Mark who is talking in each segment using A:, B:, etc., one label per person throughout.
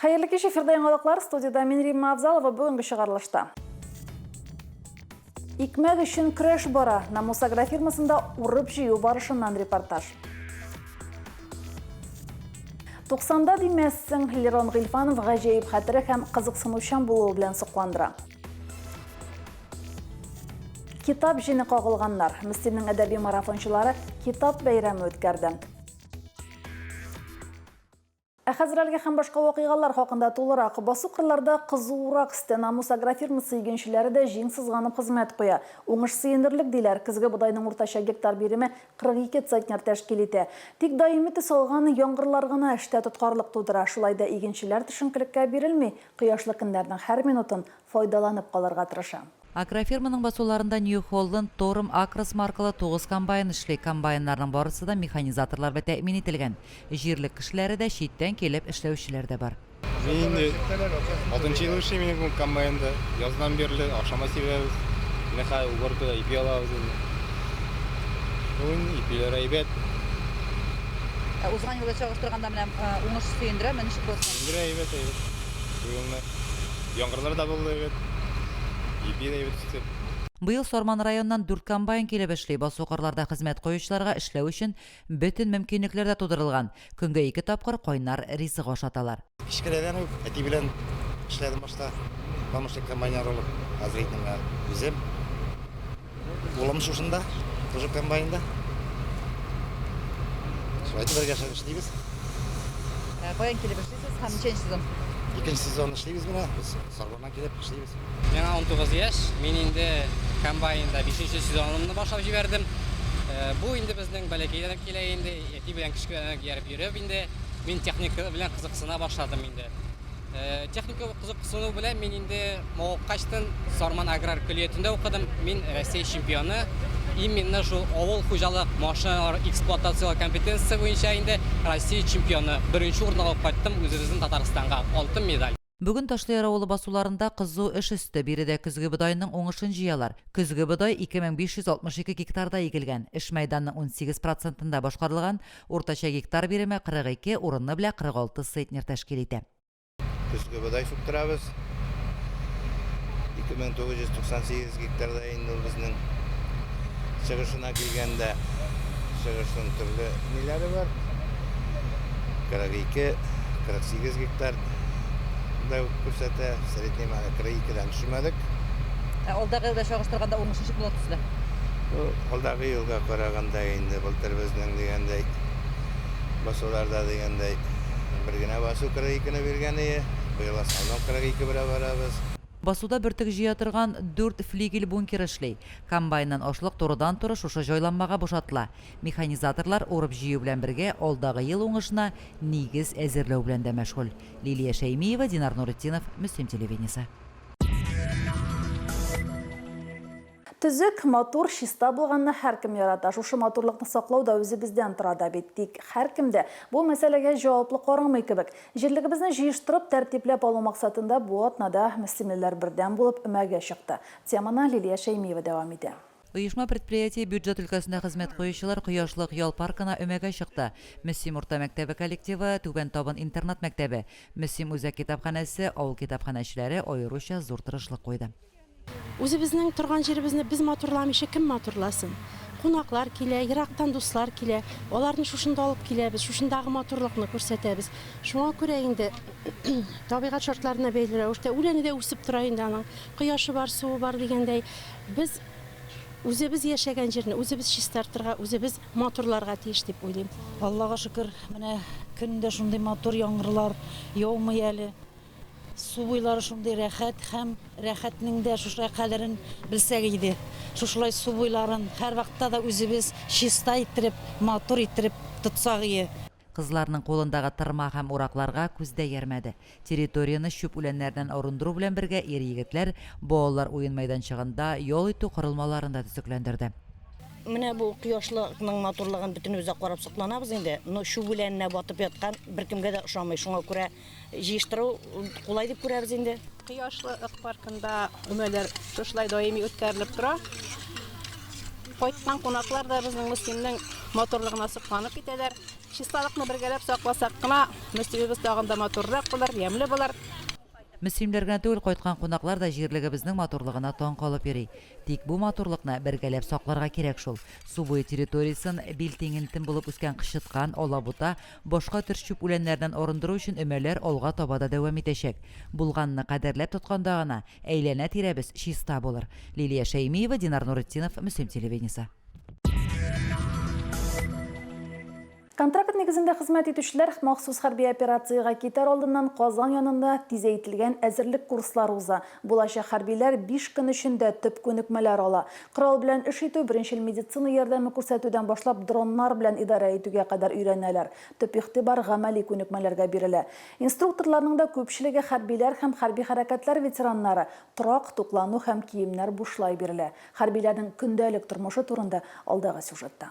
A: Хәерле кич, эфирда яңалыклар, студиядә мин Римма Авзалова бүгенге чыгарылышта. Икмәк өчен көрәш бара. Намус агрофирмасында урып җыю барышыннан репортаж. 90-да димәссең, Лерон Гыйлфанов гаҗәеп хәтере һәм кызыксынучан булуы белән сокландыра. Китап җене кагылганнар. Мстинең әдәби марафончылары китап бәйрәме үткәрде. Ә хәзер әлеге һәм башка вакыйгалар хакында тулырак. Басу кырларда кызуырак стена мус агрофирмасы игенчеләре дә җиң сызганып хезмәт куя. Уңыш сөенерлек, диләр. Көзге бодайның уртача гектар биреме 42 центнер тәшкил итә. Тик даими төс алган яңгырлар гына эштә тоткарлык тудыра. Шулай да игенчеләр төшенкелеккә бирелми, кояшлы көннәрнең һәр минутын файдаланып калырга тырыша. Агрофирманың
B: басуларында Нью Холланд, Торм, Акрос маркалы тугыз комбайн эшли. Комбайннарның барысы да механизаторлар белән тәэмин ителгән. Җирлек кешеләре дә, читтән килеп эшләүчеләр дә бар. Мин инде
C: алтынчы ел эшлим инде бу комбайнда. Яздан бирле акшамга сибәбез. Менә хәзер уборкада ипи алабыз инде. Бүген ипиләр әйбәт. Ә узган елга чагыштырганда менә уңыш сөендерәме? Ничек булыр соң?
B: Сөендерә, әйбәт, әйбәт.
C: Быелны. Яңгырлар да булды бит. Ипи дә үстек.
B: Быел Сарман районыннан дүрт комбайн килеп эшли. Басу-кырларда хезмәт куючыларга эшләү өчен бөтен мөмкинлекләр дә тудырылган. Көнгә ике тапкыр кайнар ризык ашаталар. Кечкенәдән үк әти
D: белән эшләдем башта, помощник комбайнер булып. Хәзер инде менә үзем. Улым шушында, тоже комбайнда. Шулай итеп бергә эшләп эшлибез.
B: Ә, Каян килеп эшлисез һәм ничәнче сезон? Икенче сезон
D: эшлибез менә, без Сарбаннан килеп эшлибез. Миңа 19
E: яшь, мин инде комбайнда 5нче сезонымны башлап җибәрдем. Э, Бу инде безнең бәләкәйдән үк килә инде, әти белән кечкенәдән үк ияреп йөреп инде мин техника белән кызыксына башладым инде. Э, Техника Кызыксыну белән мин инде мавыккач тын Сарман аграр көллиятендә укыдым. Мин Россия чемпионы. Именно шул авыл хуҗалык машиналар эксплуатацияләү компетенциясе буенча инде Россия чемпионы. Беренче урын алып кайттым үзебезнең Татарстанга, алтын медаль. Бүген Ташлыяр авылы
B: басуларында кызу эш өсте, биредә көзге бодайның уңышын җыялар. Көзге бодай 2562 гектарда игелгән, эш мәйданның унсигез процентында башкарылган, уртача гектар биреме 42, урыны белә 46 центнер тәшкил итә. көзге бодай
D: сүктерәбез. 2998 гектарда инде ул безнең чыгышына килгәндә чыгышның төрле ниләре бар. 42, 48 гектар да күрсәтә. Средний мәне 42-дән төшмәдек. Ә алдагы
B: елда чагыштырганда уңыш ничек була төсле? Алдагы
D: елга караганда инде былтыр безнең дигәндәй Басуларда дигәндәй, бер генә басу 42 не биргән ие, быел основном 42 белән барабыз. Басуда бөртек
B: җыя торган дүрт флигель бункер эшли. Комбайннан ашлык турыдан-туры шушы җайланмага бушатыла. Механизаторлар урып-җыю белән бергә алдагы ел уңышына нигез әзерләү белән дә мәшгуль. Лилия Шәймиева, Динар Нуретдинов, Мөслим телевидениесе.
A: Төзек, матур, чиста булганны һәркем ярата. Шушы матурлыкны саклау да үзебездән тора да бит. Тик һәркем дә бу мәсьәләгә җаваплы карамый кебек. Җирлегебезне җыештырып, тәртипләп алу максатында бу атнада мөслимлеләр бердәм булып өмәгә чыкты. Теманы Лилия Шәймиева дәвам итә. Оешма-предприятие
B: бюджет өлкәсендә хезмәт куючылар Кояшлык ял паркына өмәгә чыкты. Мөслим урта мәктәбе коллективы, Түбән Табын интернат-мәктәбе, Мөслим үзәк китапханәсе, авыл китапханәчеләре аеруча зур тырышлык куйды. Үзебезнең
F: торган җиребезне без матурламыйча кем матурласын? Кунаклар килә, ерактан дуслар килә. Аларны шушында алып киләбез, шушындагы матурлыкны күрсәтәбез. Шуңа күрә инде табигать шартларына бәйле рәвештә үләне дә үсеп тора инде аның. Кояшы бар, суы бар дигәндәй, без үзебез яшәгән җирне үзебез чистартырга, үзебез матурларга тиеш дип уйлыйм. Аллага шөкер,
G: менә көн дә шундый матур, яңгырлар яумый әле. Су буйлары шундый рәхәт һәм рәхәтнең дә шушылай кадерен белсәк иде. Шушылай су буйларын һәрвакытта да үзебез чиста иттереп, матур иттереп тотсак ие. Кызларның кулындагы
B: тырма һәм уракларга күз дә иярмәде. Территорияне чүп үләннәреннән арындыру белән бергә ир-егетләр балалар уен мәйданчыгында ял итү корылмаларын да төзекләндерде. Менә бу
H: кояшлыкның матурлыгын бөтенебез дә карап сокланабыз инде. Но чүп үләненә батып яткан беркемгә дә ошамый, шуңа күрә Җыештыру кулай дип күрәбез инде. Кояшлы ык
F: паркында өмәләр шушылай даими үткәрелеп тора. Кайткан кунаклар да безнең мөслимнең матурлыгына сокланып китәләр. Чисталыкны бергәләп сакласак кына, мөслимебез тагын да матуррак булыр, ямьле булыр. Мөслимләр
B: генә түгел, кайткан кунаклар да җирлегебезнең матурлыгына таң калып йөри. Тик бу матурлыкны бергәләп сакларга кирәк шул. Су буе территориясен, бил тиңентен булып үскән кычыткан, алабута, Башка төр чүп үләннәреннән арындыру өчен өмәләр алга таба да дәвам итәчәк. Булганны кадерләп тотканда гына, әйләнә-тирәбез чиста булыр. Лилия Шәймиева, Динар Нуретдинов, Мөслим телевидениесе.
A: Контракт нигезендә хезмәт итүчеләр махсус хәрби операциягә китәр алдыннан Казан янында тизәйтелгән әзерлек курслары уза. Булачак хәрбиләр биш көн эчендә төп күнекмәләр ала. Корал белән эш итү, беренчел медицина ярдәме күрсәтүдән башлап дроннар белән идарә итүгә кадәр өйрәнәләр. Төп игътибар гамәли күнекмәләргә бирелә. Инструкторларның да күпчелеге хәрбиләр һәм хәрби хәрәкәтләр ветераннары. Торак, туклану һәм киемнәр бушлай бирелә. Хәрбиләрнең көндәлек тормышы турында алдагы сюжетта.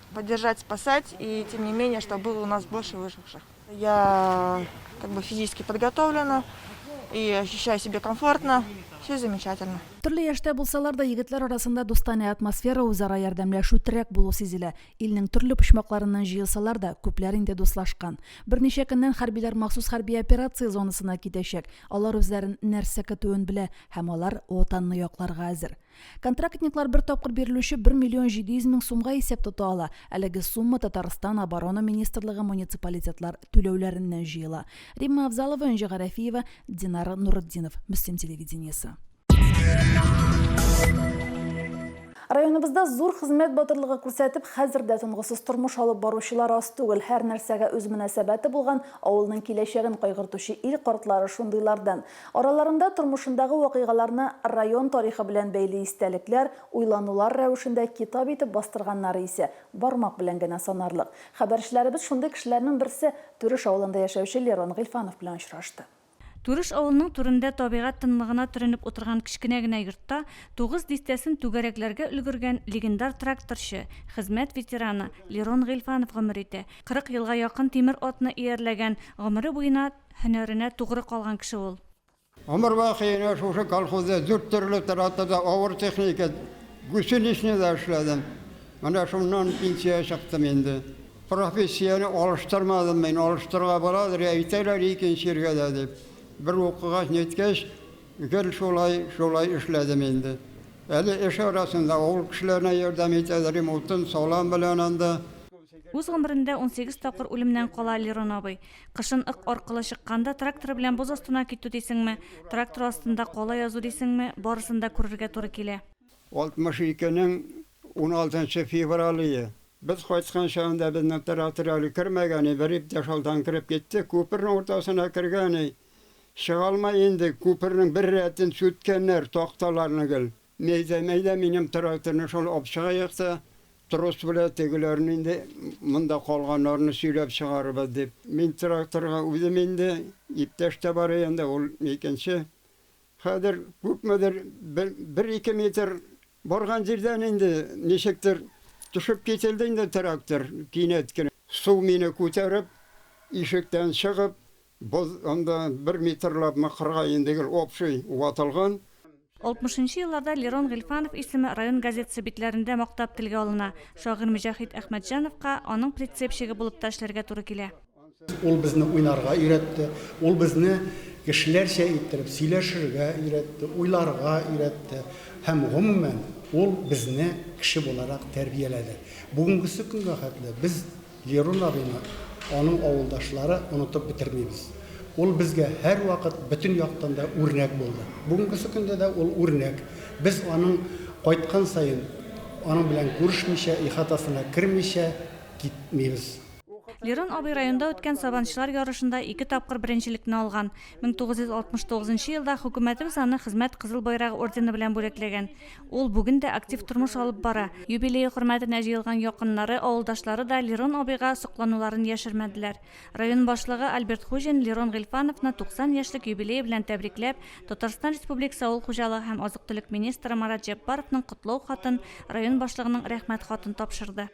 I: Поддержать, спасать, и тем не менее, чтобы было у нас больше выживших. Я как бы физически подготовлена и ощущаю себя комфортно. Все замечательно. Төрле яшьтә булсалар
A: да, егетләр арасында дустанә атмосфера, үзара ярдәмләшү, терәк булу сизелә. Илнең төрле почмакларыннан җыелсалар да, күпләр инде дуслашкан. Берничә көннән хәрбиләр махсус хәрби операция зонасына китәчәк. Алар үзләрен нәрсә көтүен белә һәм алар Ватанны якларга әзер. Контрактниклар бер тапкыр бирелүче 1 миллион 700 мең сумга исәп тота ала. Әлеге сумма Татарстан оборона министрлыгы муниципалитетлар түләүләреннән җыела. Римма Авзалова, Энҗе Гарәфиева, Динар Нуретдинов, Мөслим телевидениесе. Районыбызда зур хезмәт батырлыгы күрсәтеп, хәзер дә тынгысыз тормыш алып баручылар аз түгел. Һәр нәрсәгә үз мөнәсәбәте булган, авылның киләчәген кайгыртучы ил картлары шундыйлардан. Араларында тормышындагы вакыйгаларны район тарихы белән бәйле истәлекләр, уйланулар рәвешендә китап итеп бастырганнары исә бармак белән генә санарлык. Хәбәрчеләребез шундый кешеләрнең берсе, Түреш авылында яшәүче Лерон Гыйльфанов белән очрашты. Түреш авылының
J: түрендә табигать тынлыгына төренеп утырган кечкенә генә йортта тугыз дистәсен түгәрәкләргә өлгергән легендар тракторчы, хезмәт ветераны Лерон Гыйльфанов гомер итә. Кырык елга якын тимер атны иярләгән, гомере буена Һөнәренә тугры калган кеше ул. Гомер вакыена
K: шушы колхозда дүрт төрле тратада авыр техника, гусеничныйда эшләдем. Менә шуннан пенсиягә чыктым инде. Профессияне алыштырмадым мин, алыштырырга буладыр, йә әйтәләр икенче җиргә дә дип. Бер укыгач, ниткәч, гел шулай, шулай эшләдем инде. Әле эш арасында авыл кешеләренә ярдәм итәләрем, утын салам белән анда. Үз гомерендә
J: унсигез тапкыр үлемнән кала Лерон абый. Кышын ык аркылы чыкканда, трактор белән боз астына китү дисеңме, трактор астында кала язу дисеңме, барысын да күрергә туры килә. 62
K: нең 16 феврале. Без кайткан чагында безнең трактор әле кермәгәни, бер иптәш алдан кереп китте, күпернең уртасына кергәни, чыга алмай инде, күпернең бер рәтен сүткәннәр, такталарны гел. Мәйдә, мәйдә минем тракторны шул апчык аякта трос белән тегеләрне инде монда калганнарны сөйләп чыгарыбыз дип. Мин тракторга үзем инде, иптәш тә бар янда, ул икенче. Хәзер күпмедер бер, бер-ике метр барган җирдән инде ничектер төшеп кителде инде трактор кинәт кенә. Су мине күтәреп, ишектән чыгып, боз анда бер метрлапмы кырга инде гел общий ватылган. Алтмышынчы
J: елларда Лерон Гыйльфанов исеме район газетасы битләрендә мактап телгә алына, шагыйрь Мөҗәхит Әхмәтҗановка аның прицепщигы булып та эшләргә туры килә. Ул безне
L: уйнарга өйрәтте, ул безне кешеләрчә иттереп сөйләшергә өйрәтте, уйларга өйрәтте һәм, гомумән, ул безне кеше буларак тәрбияләде. Бүгенгесе көнгә хәтле без Лерун абыйны, аның авылдашлары онытып бетермибез. Ул безгә һәрвакыт бөтен яктан да үрнәк булды. Бүгенгесе көндә дә ул үрнәк. Без аның кайткан саен, аның белән күрешмичә, ихатасына кермичә китмибез. Лерун
J: абый районда үткән сабанчылар ярышында ике тапкыр беренчелекне алган. 1969 елда хөкүмәтебез аны Хезмәт Кызыл Байрагы ордены белән бүләкләгән. Ул бүген дә актив тормыш алып бара. Юбилее хөрмәтенә җыелган якыннары, авылдашлары да Лерон абыйга соклануларын яшермәделәр. Район башлыгы Альберт Хуҗин Лерон Гыйльфановны 90 яшьлек юбилее белән тәбрикләп, Татарстан Республикасы авыл хуҗалыгы һәм азык-төлек министры Марат Җәббаровның котлау хатын, район башлыгының Рәхмәт хатын тапшырды.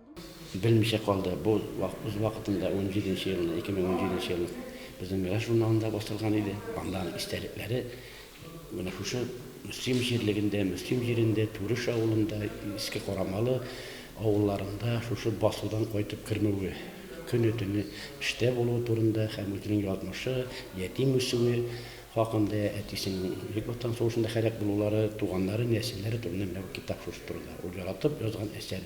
J: Белмичә
M: калды, бу үз вакытында унҗиденче елны, 2017 нче елны безнең Мирас журналында басылган иде. Анда аның истәлекләре менә шушы Мөслим җирлегендә, Мөслим җирендә, Түреш авылында, Иске Карамалы авылларында шушы басудан кайтып кермәве, көне-төне эштә булуы турында һәм үзенең язмышы, ятим үсүе, хакында, әтисенең Бөек Ватан сугышында һәлак булулары, туганнары, нәселләре турында менә бу китап шушы турыда, ул яратып язган әсәр.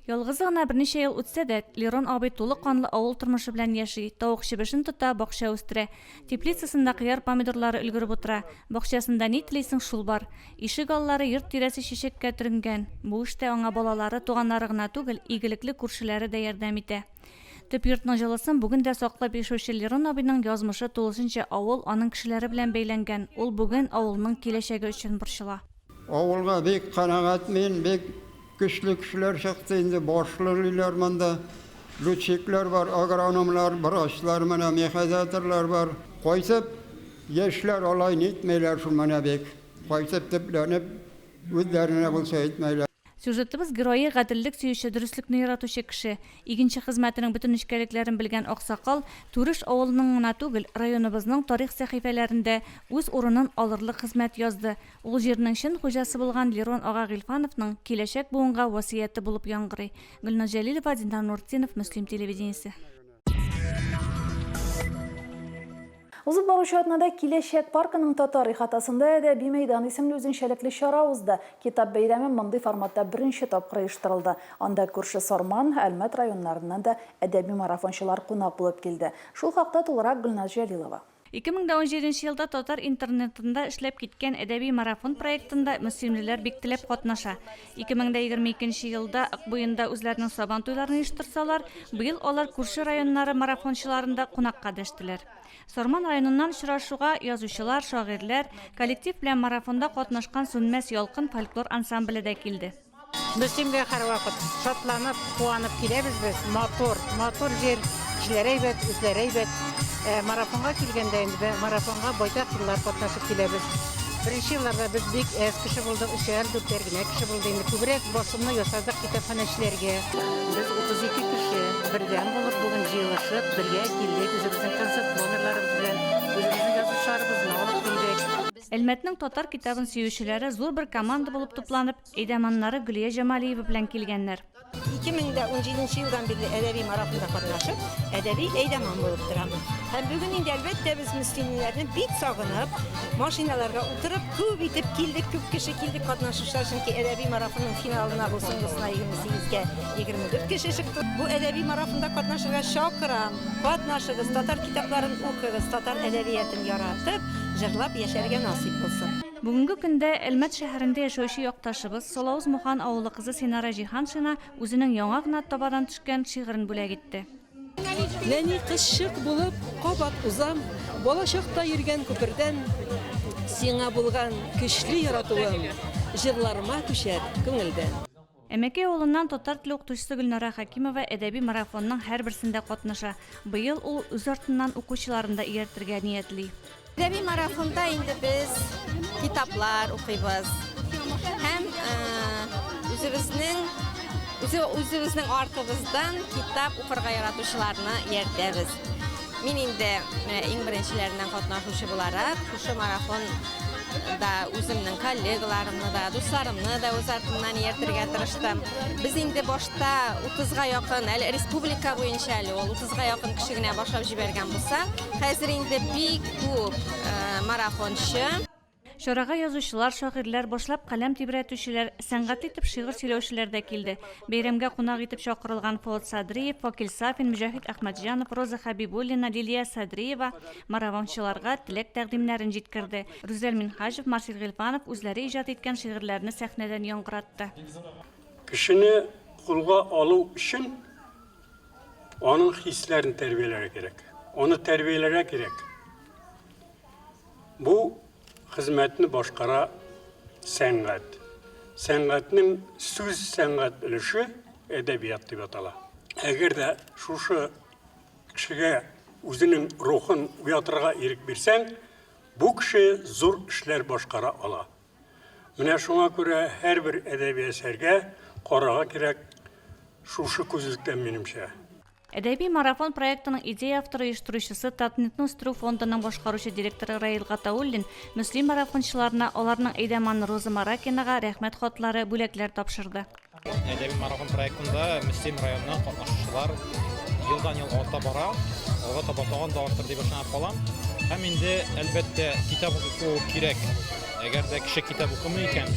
M: Ялгызы гына
J: берничә ел үтсә дә, Лерон абый тулы канлы авыл тормышы белән яши, тавык чебешен тота, бакча үстерә. Теплицасында кыяр-помидорлары өлгереп утыра. Бакчасында ни телисең, шул бар. Ишегаллары, йорт тирәсе чәчәккә төренгән. Бу эштә аңа балалары, туганнары гына түгел, игелекле күршеләре дә ярдәм итә. Төп йортның җылысын бүген дә саклап яшәүче Лерон абыйның язмышы тулысынча авыл, аның кешеләре белән бәйләнгән, ул бүген авылның киләчәге өчен борчыла. Авылга бик
K: канәгать мин, бик көчле кешеләр чыкты инде, башлыйлар монда, летчиклар бар, агрономнар, врачлар, менә мехайзаторлар бар. Кайтып, яшьләр алай нитмиләр шул менә бик, кайтып төпләнеп, үзләренә булса әйтмиләр. Сюжетыбыз герое,
J: гаделлек сөюче, дөреслекне яратучы кеше. Игенче хезмәтенең бөтен нечкәлекләрен белгән аксакал Түреш авылының гына түгел, районыбызның тарих сәхифәләрендә үз урынын алырлык хезмәт язды. Ул җирнең чын хуҗасы булган Лерон ага Гыйльфановның киләчәк буынга васыяте булып яңгырый. Гөлназ Җәлилова, Динар Нуртдинов, Мөслим телевидениесе.
A: Узып баручы атнада киләчәк паркының татар ихатасында әдәби мәйдан исемле үзенчәлекле чара узды. Китап бәйрәме мондый форматта беренче тапкыр оештырылды. Анда күрше Сарман, Әлмәт районнарыннан да әдәби марафончылар кунак булып килде. Шул хакта тулырак Гөлназ Җәлилова. Ике мең дә унҗиденче
J: елда татар интернетында эшләп киткән Әдәби марафон проектында мөслимлеләр бик теләп катнаша. Ике мең дә егерме икенче елда Акбуенда үзләренең Сабан туйларын оештырсалар, быел алар күрше районнары марафончыларын да кунакка дәштеләр. Сарман районыннан очрашуга язучылар, шагыйрьләр, коллектив белән марафонда катнашкан Сүнмәс ялкын фольклор ансамбле дә килде. Без Семгә
N: һәрвакыт шатланып, куанып киләбез без. Матур, матур җир, кешеләре әйбәт, үзләре әйбәт. Ә марафонга килгәндә инде, марафонга байтак еллар катнашып киләбез. Беренче елларда без бик әз кеше булдык, өчәр, дүртәр генә кеше булды инде. Күбрәк басымны ясадык китапханәчеләргә. Без 32 кеше бердәм булып, бүген җыелышып, бергә килдек, үзебезнең концерт номерларыбыз белән үзебезнең язучыларыбызны алып килдек. Әлмәтнең татар
J: китабын сөючеләре зур бер команда булып тупланып, әйдәманнары Гөлия Җамалиева белән килгәннәр.
H: 2017 елдан бирле әдәби марафонда катнашып, әдәби әйдәман булып торам. Һәм бүген инде, әлбәттә, без мөслимнәрне бик сагынып, машиналарга утырып, күп итеп килдек, күп кеше килдек катнашучылар, чөнки әдәби марафонның финалына бу соңгысына 28 кә 24 кеше чыкты. Бу әдәби марафонда катнашырга чакырам. Катнашыгыз, татар китапларын укыгыз, татар әдәбиятын яратып, җырлап яшәргә насыйп булсын. Бүгенге көндә
J: Әлмәт шәһәрендә яшәүче якташыбыз, Солавыз Мухан авылы кызы Синара Җиһаншина үзенең яңа гына табадан төшкән шигырен бүләк итте. Нәни
O: кызчык булып кабат узам, Балачакта йөргән күпердән. Сиңа булган көчле яратуым, Җырларыма күчәр күңелдән. Әмәкәй
J: авылыннан татар теле укытучысы Гөлнара Хәкимова әдәби марафонның һәрберсендә катнаша. Быел ул үз артыннан укучыларын да ияртергә ниятли. Әдәби марафонда
P: инде без китаплар укыйбыз һәм үзебезнең артыбыздан китап укырга яратучыларны ияртәбез. Мин инде менә иң беренчеләреннән катнашучы буларак, шушы марафонда үземнең коллегаларымны да, дусларымны да үз артымнан ияртергә тырыштым. Без инде башта 30-га якын, әле республика буенча әле ул, 30-га якын кеше генә башлап җибәргән булса, хәзер инде бик күп марафончы. Чарага
J: язучылар, шагыйрьләр, башлап каләм тибрәтүчеләр, сәнгатьле итеп шигырь сөйләүчеләр дә килде. Бәйрәмгә кунак итеп чакырылган Фоат Садриев, Вакил Сафин, Мөҗәһит Әхмәтҗанов, Роза Хәбибуллина, Лилия Садриева маравамчыларга теләк тәкъдимнәрен җиткерде. Рүзәл Минһаҗев, Марсель Гыйльфанов үзләре иҗат иткән шигырьләрне сәхнәдән яңгыратты. Кешене
Q: кулга алу өчен аның хисләрен тәрбияләргә кирәк. Аны тәрбияләргә кирәк. Бу хезмәтне башкара сәнгать. Сәнгатьнең сүз сәнгать өлеше әдәбият дип атала. Әгәр дә шушы кешегә үзенең рухын уятырга ирек бирсәң, бу кеше зур эшләр башкара ала. Менә шуңа күрә һәрбер әдәби әсәргә карарга кирәк шушы күзлектән, минемчә. Әдәби
J: марафон проектының идея авторы оештыручысы Татнетны үстерү фондының башкаручы директоры Раил Гатауллин мөслим марафончыларына аларның әйдәманы Роза Маракинага рәхмәт хатлары, бүләкләр тапшырды. Әдәби марафон
C: проектында Мөслим районыннан катнашучылар елдан-ел арта бара, алга таба тагын да артыр дип ышанып калам. Һәм инде, әлбәттә, китап уку кирәк. Әгәр дә кеше китап укымый икән,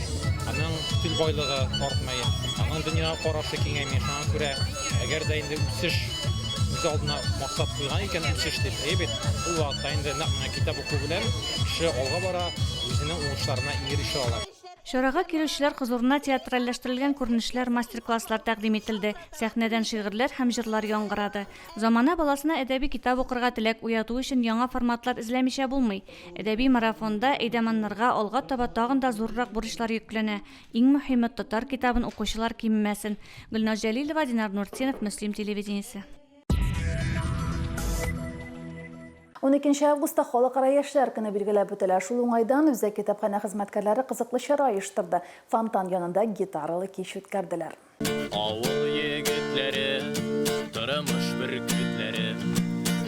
C: аның стиль байлыгы артмый, аның дөньяга карашы киңәйми. Шуңа күрә, әгәр дә инде үсеш үз алдына максат куйган икән, үсеш дип, әйе бит, ул вакытта инде нәкъ менә китап уку белән кеше алга бара, үзенең уңышларына ирешә ала. Чарага килүчеләр
J: хозурына театральләштерелгән күренешләр, мастер-класслар тәкъдим ителде, сәхнәдән шигырьләр һәм җырлар яңгырады. Замана баласына әдәби китап укырга теләк уяту өчен яңа форматлар эзләмичә булмый. Әдәби марафонда әйдәманнарга алга таба тагын да зуррак бурычлар йөкләнә. Иң мөһиме, татар китабын укучылар кимемәсен. Гөлназ Җәлилова, Динар Нуртдинов, Мөслим телевидениесе.
A: Уникенче августта Халыкара яшьләр көне билгеләп үтелә. Шул уңайдан үзәк китапханә хезмәткәрләре кызыклы чара оештырды. Фонтан янында гитаралы кич үткәрделәр. Авыл
R: егетләре, тормыш бөркетләре,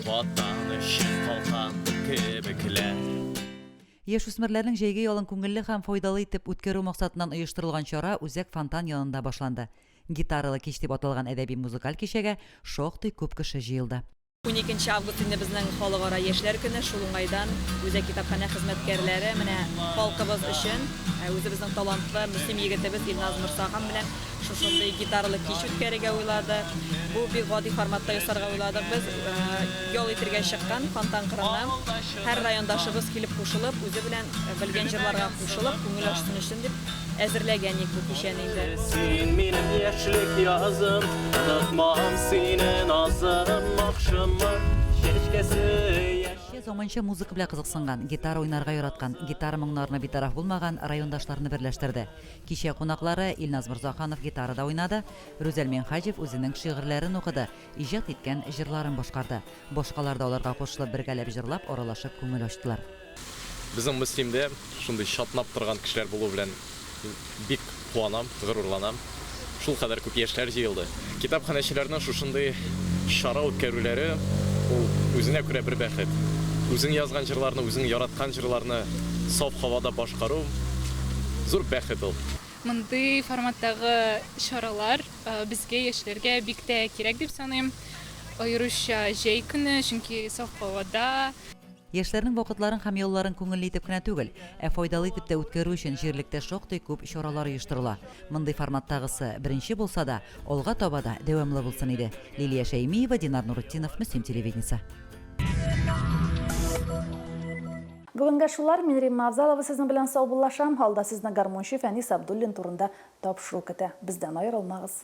R: Ватан өчен калкан кебекләр.
B: Яшүсмерләрнең җәйге ялын күңелле һәм файдалы итеп үткәрү максатыннан оештырылган чара үзәк фонтан янында башланды. Гитаралы кич дип аталган әдәби-музыкаль кичәгә шактый күп кеше җыелды. Уникенче август
S: инде безнең халыкара яшьләр көне, шул уңайдан үзәк китапханә хезмәткәрләре менә халкыбыз өчен үзебезнең талантлы Мөслим егетебез Илназ Морсахан белән шушындый гитаралы кич үткәрергә уйлады. Бу бик гади форматта ясарга уйладык без. Ял итергә чыккан Фонтан кырына. Һәр райондашыбыз килеп кушылып, үзе белән белгән җырларга
R: кушылып, күңел ачсын өчен дип әзерләгән ник бу кичәне инде. Син минем яшьлек язым, онытмам сине назым, махшымы чәчкәсе заманча музыка
B: белән кызыксынган, гитара уйнарга яраткан, гитара моңнарына битараф булмаган райондашларны берләштерде. Кичә кунаклары Илназ Морзаханов гитарада уйнады, Рүзәл Минхаҗев үзенең шигырьләрен укыды, иҗат иткән җырларын башкарды. Башкалар да аларга кушылып бергәләп җырлап, аралашып күңел ачтылар. Безнең
C: Мөслимдә шундый чатнап торган кешеләр булуы белән бик куанам, горурланам. Шулкадәр күп яшьләр җыелды. Китапханәчеләрнең шушындый чара үткәрүләре, ул үзенә күрә бер бәхет. Үзең язган җырларны, үзең яраткан җырларны саф һавада башкару, зур бәхет ул. Мондый
D: форматтагы чаралар безгә, яшьләргә бик тә кирәк дип саныйм. Аеруча җәй көне, чөнки саф һавада. Яшьләрнең
B: вакытларын һәм ялларын күңелле итеп кенә түгел, ә файдалы итеп тә үткәрү өчен җирлектә шактый күп чаралар оештырыла. Мондый форматтагысы беренче булса да, алга таба да дәвамлы булсын иде. Лилия Шәймиева, Динар Нуретдинов, Мөслим телевидениесе.
A: Бүгенгә шулар, мин Римма Авзалова сезнең белән саубуллашам, алда сезне гармунчы Фәнис Абдуллин турында тапшыру көтә. Бездән аерылмагыз.